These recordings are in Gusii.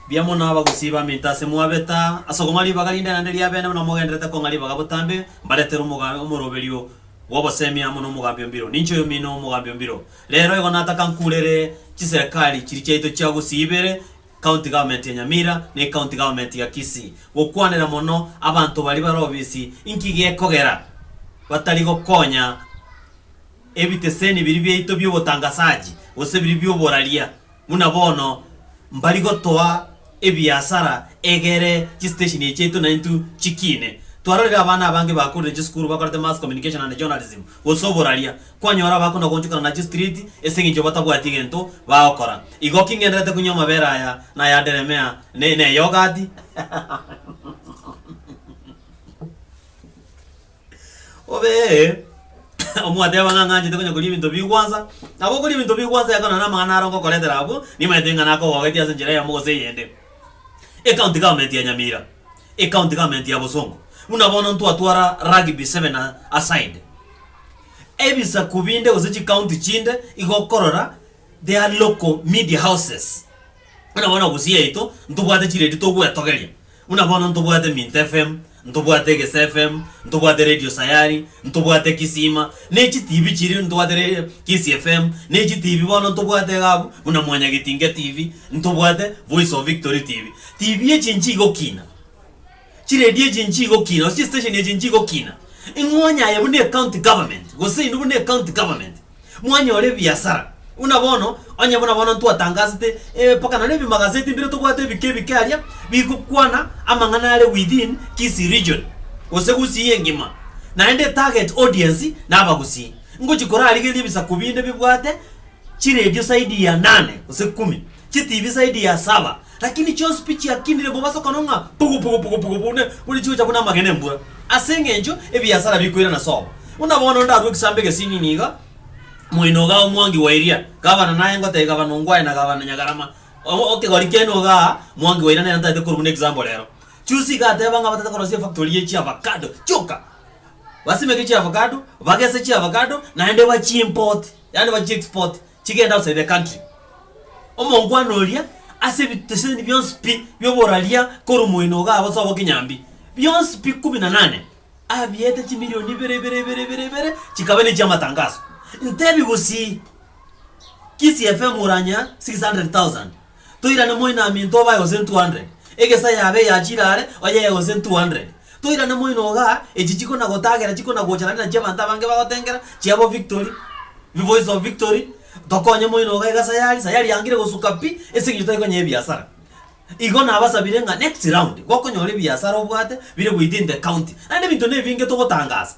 Mbuya mono abagusii baminto ase mwabeta ase okong'wa ribaga rinde naende ri'abene buna mogenderete kong'a ribaga botambe, mbaretere omoga omoroberio bw'obosemi amo n'omogambi o mbiro. Ninche oyomino omogambi o mbiro. Rero igo nataka nkurere chiserekari chiria chiaito chia gusii ibere, County Government ya Nyamira na eCounty Government ya Kisii, gokwanera mono abanto baria bare obisi inki gekogera batari gokonya ebiteseni biria biaito bi'obotangasaji gose biria bi'oboraria. Buna bono mbari gotoa ebiasara egere chisitesheni echi chiaito naintwe chikiine. Twarorire abana abange bakorire chisukuru bakorete Mass Communication and Journalism gose oboraria. Kwanyora abakona goonchokana na chistreet ase eng'encho batabwati gento bagokora. Igo ki ng'enderete konywa amabere aya na aya Delamere ne ne yogati? Obee omoteba ng'a ng'anchete konya koria ebinto bi gwansa, nabo okoria ebinto bi gwansa yakorana namang'ana are ongokoretera abwo, nimanyete ng'a nakogogetie ase enchera eyemo gose eyende. Ecounty government ya Nyamira, ecounty government ya Bosongo, buna bono ntwatwara rugby seven a aside, ebisaku binde gose chicounty chinde igo okorora they are local media houses. Buna bono Gusii yaito ntobwate chiredio togwetogeria, buna bono ntobwate Minto FM, ntobwate Egesa FM, ntobwate Radio Sayari, ntobwate Kisima, ne chitibi chiria ntobwate re Kisii FM, ne chitibi bono ntobwate iga abwo buna Mwanyagetinge TV, ntobwate Voice of Victory TV. Tibi echi nchigokiina. Chiredio echi inche igokina, gose chistesheni echi inche igokina. Ing'onya aye buna ecounty government, gose inwe buna ecounty government, mwanyora ebiasara. Buna bono, onye buna bono ntwatangasete, eh, mpaka nonye ebimagazeti mbire tobwate ebike ebike aria, bigokwana amang'ana are within Kisii region, gose Gusii engima. Naende etarget audience na Abagusii. Ngochia korarigeria ebisaku binde bibwate chiredio zaidi ya nane, gose kumi. chitibi zaidi ya saba, lakini chionsi pi chiakinire mobasokano ng'a pugu pugu pugu pugu buna buna chigocha buna amagena embura, ase engencho ebiasara bikoirana sobo. Buna bono ndarue egesambo egesing'ing'ia iga, Moino iga omwangi wa eria, gavana naye ngotebia gavana ongwae na gavana Nyagarama, o- okegori kiane igaa, mwangi wa eria nere ntaete korwa buna example ero. Chionsi iga ateba ng'a batete korosia efactory ye chiavacado chioka, basimeke chiavacado, bagese chiavacado naende bachi import, yaani bachi export. chigenda outside the country. Omongwana oria ase ebiteseni bionsi pi bioboraria korwa moino igaa gosa obo kinyambi, bionsi pi kumi na nane, abiete chimilioni ibere ibere ibere ibere ibere chikaba nechia amatangaso. Ntebi gusii, Kisii FM oranyea 600,000. Toirane moinaminto obae gose 200, egesa yabe eyachire are oyee gose 200. Toirane moino ogaa, echi chikona gotagera chikona gocha naende nachio abanto abange bagotengera chia bo victory, voice of victory, tokonye moino ogaa iga sayari, sayari yangire gosuka pi ase eng'encho tari konya ebiasara. Igo nabasabire ng'a next round gokonyora ebiasara obwate bire goita in the county. Naende ebinto ne ebinge togotangasa.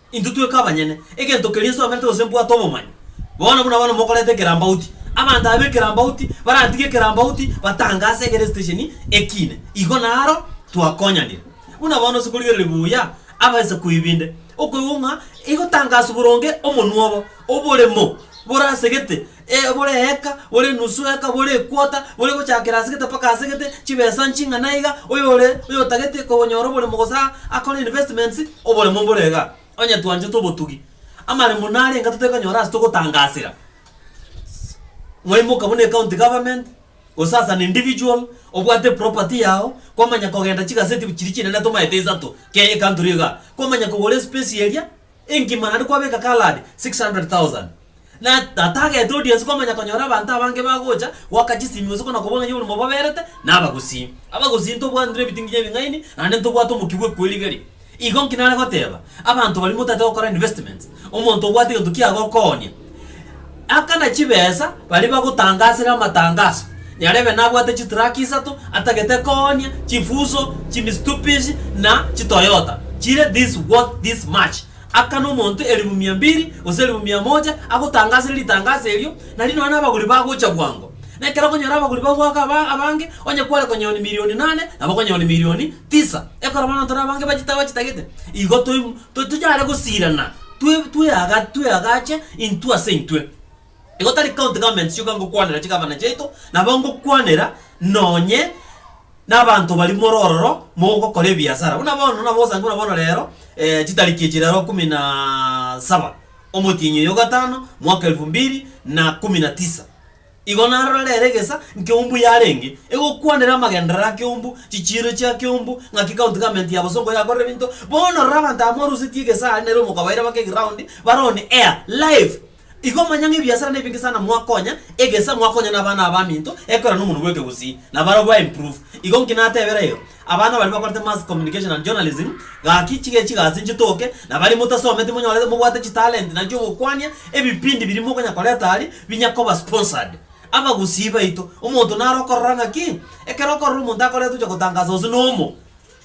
Intwe tweka abanyene egento keria nsomerete gose mbwate obomanyi. Bono buna abana mokoreta ekerambauti, abanto aba b'ekerambauti baratige ekerambauti batange ase egere esitesheni ekiine. Igo naro twakonyanire. Buna bono ase okorigereria buya abasaku ebinde, okoigwa ng'a egotangasa boronge omonwa obo, oboremo borasegete ee, bore eeka, bore enusu eeka, bore equota, bore gochakera ase gete mpaka ase gete, chibesa nching'ana iga, oyore oyotagete konyora oboremo gose a- akore investments, oboremo mbore iga. Onye twanchete obotugi, amaremo nare enga totekonyora ase togotangasera, mwaimoka buna ecounty government, gose as an individual, obwate eproperty yago, kwamanya kogenda chigaseti chiria chinene tomaete isato, kei ecountry iga, kwamanya kogora espacei eria, Engima naende kwabeka Kaladi 600,000. Na atagete oria onsi komanya konyora abanto abange bagocha goaka chisimi gose kona kobua ng'a yori mobaberete nabagusii. Abagusii ntobwanire ebitinginya ebing'aini naende ntobwate omokia bw'ekwerigeria. Igo nki nare goteba abanto baria motaete gokora investments? Omonto obwate egento kiagokoonia Akana chibesa baria bagotangasera amatangaso, nyarebe nabwate chitraki isato, atagete koonia chifuso chimistubishi na chitoyota chire this worth this much. Akana omonto elifu mia mbiri gose elifu mia moja agotangasere ritangaso erio, nari nonya nabaguri bagocha bwango. Na ekero okonyora abaguri bagoaka aba abange, onye kware konyora milioni nane, nabo okonyora milioni tisa. Ekorobana intwe nabange bachita bachitagete, igo toi tochare gosirana. Twe tweaga tweagache intwe ase intwe. Igo tari county government chioka ngokwanera chigavana chiaito, nabo ngokwanera nonye nabanto baria more ororo mogokora ebiasara. Buna bono nabo osange buna bono rero chitariki echi rero kumi na saba omotienyi oyogatano mwaka elfu mbili na kumi na tisa. Igo narora ere egesa nkeumbu yarenge egokwanera amagenderero a keumbu, chichiiro chia keumbu, ng'aki county government ya bosongo yakorera ebinto. Bono rora abanto aba morusetie egesa are nere omokabaira bake eground bare on air, live. Igo manya ng'a ebiasara nebinge sana mwakonya egesa, mwakonya nabana abaminto ekorera nomonwa bw'ekegusii, nabarabwo ba improve. Igo nki natebera ero? Abana baria bakorete Mass Communication and Journalism, gaki chigechi gasi inche toke, na baria motasometi monyorete mobwate chitalent nainche ogokwania, ebipindi biria mokonya koreta aria binya koba sponsored. Abagusii baito, omonto nare okorora ng'aki? Ekero okorora omonto akorete ocha gotangasa gose nomo,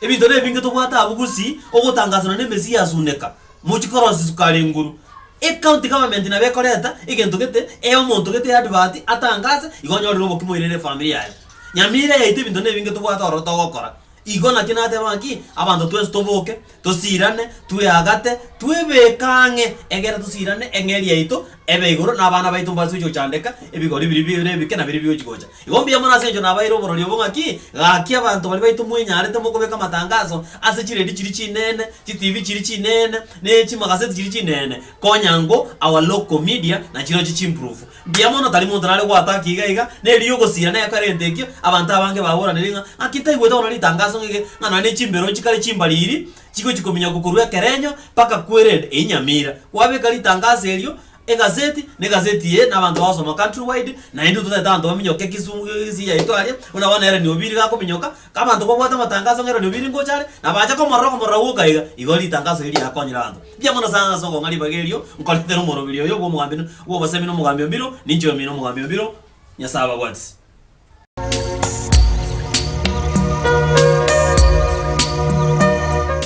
ebinto nebinge tobwate abwo gusii, ogotangasa nonye na emesii ya suneka, mochikorosi sukari nguru. Ecounty government nabo ekoreta egento gete, ee omonto gete eadvert atangase, igo onyorire obokima oirere efamiri yaye. Nyamira yaito ebinto nebinge tobwate oro togokora. Igo naki nateba ng'a ki? Abanto twensi toboke, tosiirane, tweagate, twebeke ang'e, egeera tosiirane eng'eria yaito ebe igoro, na abana baito mbaase gochia gochandeka ebigori biria bire ebike na biria bigochia gocha. Igo mbuya mono ase engencho nabaeire oborori obo ng'a ki? Gaki abanto baria baito mwenyarete mokobeka amatangaso ase chiredio chiria chineene, chitibi chiria chineene, ne chimagazeti chiria chineene, konya ngo Our Local Media na chirochio chimburufu. Mbuya mono, tari monto nare goataka iga iga, na erio ogosiira na ekero egento ekio, abanto abange baboranire ng'a, Ng'aki taigwete bono ritangaso ng'eke, ng'a nonya nechimbero chikare chimbariri chigochia kominyokwa korwa ekerenyo mpaka Quered eye nyamira. Gwabeka ritangaso erio egaseti, na egaseti eye nabanto bagosoma country wide, naende intwe totaete abanto baminyoke egesungu gesiyaito aria, buna bono Ellen Obiri gakominyoka, Abanto babwate amatangaso ng'a eranio biri ngocha are, na bache komorora okomorora gwoka iga, igo ritangaso eri riakonyire abanto mbuya mono sana ase okong'a ribaga erio nkoretera omorobiri oyo bw'omogambi bw'obosemi n'omogambi o mbiro, ninche omi n'omogambi o mbiro, Nyasae ababwatisi.